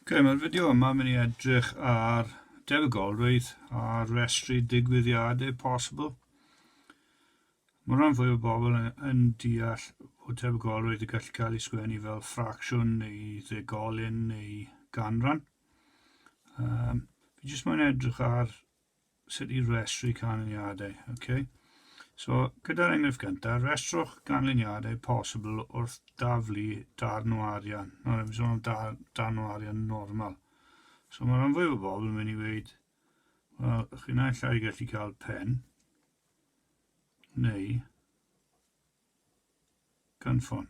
Ok, mae'r fideo yma mynd i edrych ar defygolrwydd a restru digwyddiadau posibl. Mae rhan fwy o bobl yn deall bod tebygolrwydd y gallu cael ei sgwennu fel ffracsiwn neu ddegolyn neu ganran. Um, fi jyst mae'n edrych ar sut i restru canlyniadau. Okay. So, gyda'r enghraifft gyntaf, restrwch ganlyniadau posibl wrth daflu darn o arian. Nawr, efo'n sôn am dar, darn o arian normal. So, mae rhan fwyaf o bobl yn mynd i weid, wel, chi'n naill ai gallu cael pen, neu gynffon.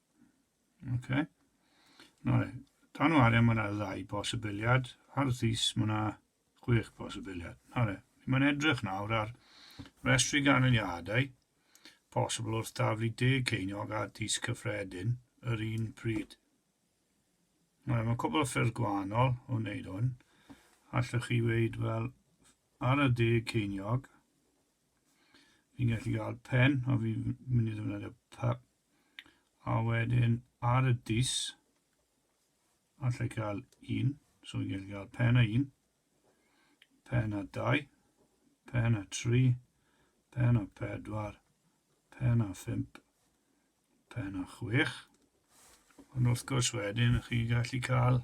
Okay. Nawr, dan o arian mae yna ddau bosibiliad, ar ddys mae yna chwech bosibiliad. Nawr, mae'n edrych nawr ar restri ganlyniadau posibl wrth daflu deg ceiniog a dys cyffredin yr un pryd. Nawr, mae cwbl o ffyrdd gwahanol o wneud hwn. Allwch chi weid fel ar y deg ceiniog, fi'n gallu gael pen, o fi'n mynd i ddefnyddio A wedyn ar y dys, allai cael un, so fi'n gallu cael pen a un, pen a dau, pen a tri, pen a pedwar, pen a phump, pen a chwech. Ond wrth gwrs wedyn, chi'n gallu cael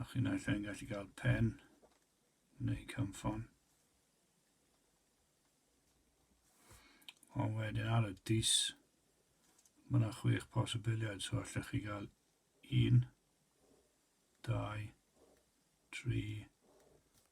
A chi naill ai'n gallu cael pen neu cymffon. Ond wedyn ar y dis, mae yna chwech posibiliad, so allech chi gael un, dau, tri,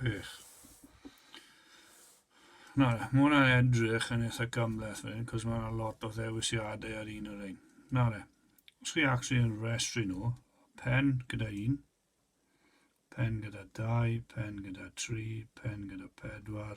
Gwych. Na, mae hwnna'n edrych yn eitha gymleth fan hyn, cos mae yna lot o ddewisiadau ar un o'r ein. Na le, os chi actually yn restru nhw, pen gyda un, pen gyda dau, pen gyda tri, pen gyda pedwar,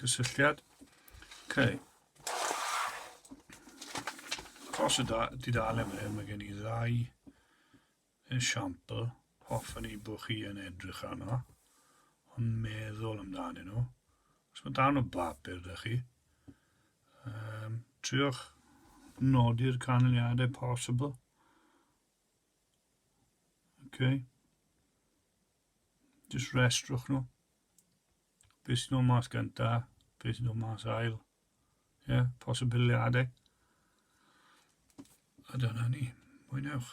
Cysylltiad. Okay. Os y da, di dal yn hyn, mae gen i ddau esiampl hoffwn i bod chi yn edrych arno, ond meddwl amdanyn nhw. Os mae dan o bapur da chi, um, triwch nodi'r canlyniadau posibl. Okay. Jyst restrwch nhw. Be sy'n nhw mas gynta, be sy'n nhw mas ail. Ie, yeah, posibiliadau. A dyna ni. Mwynewch.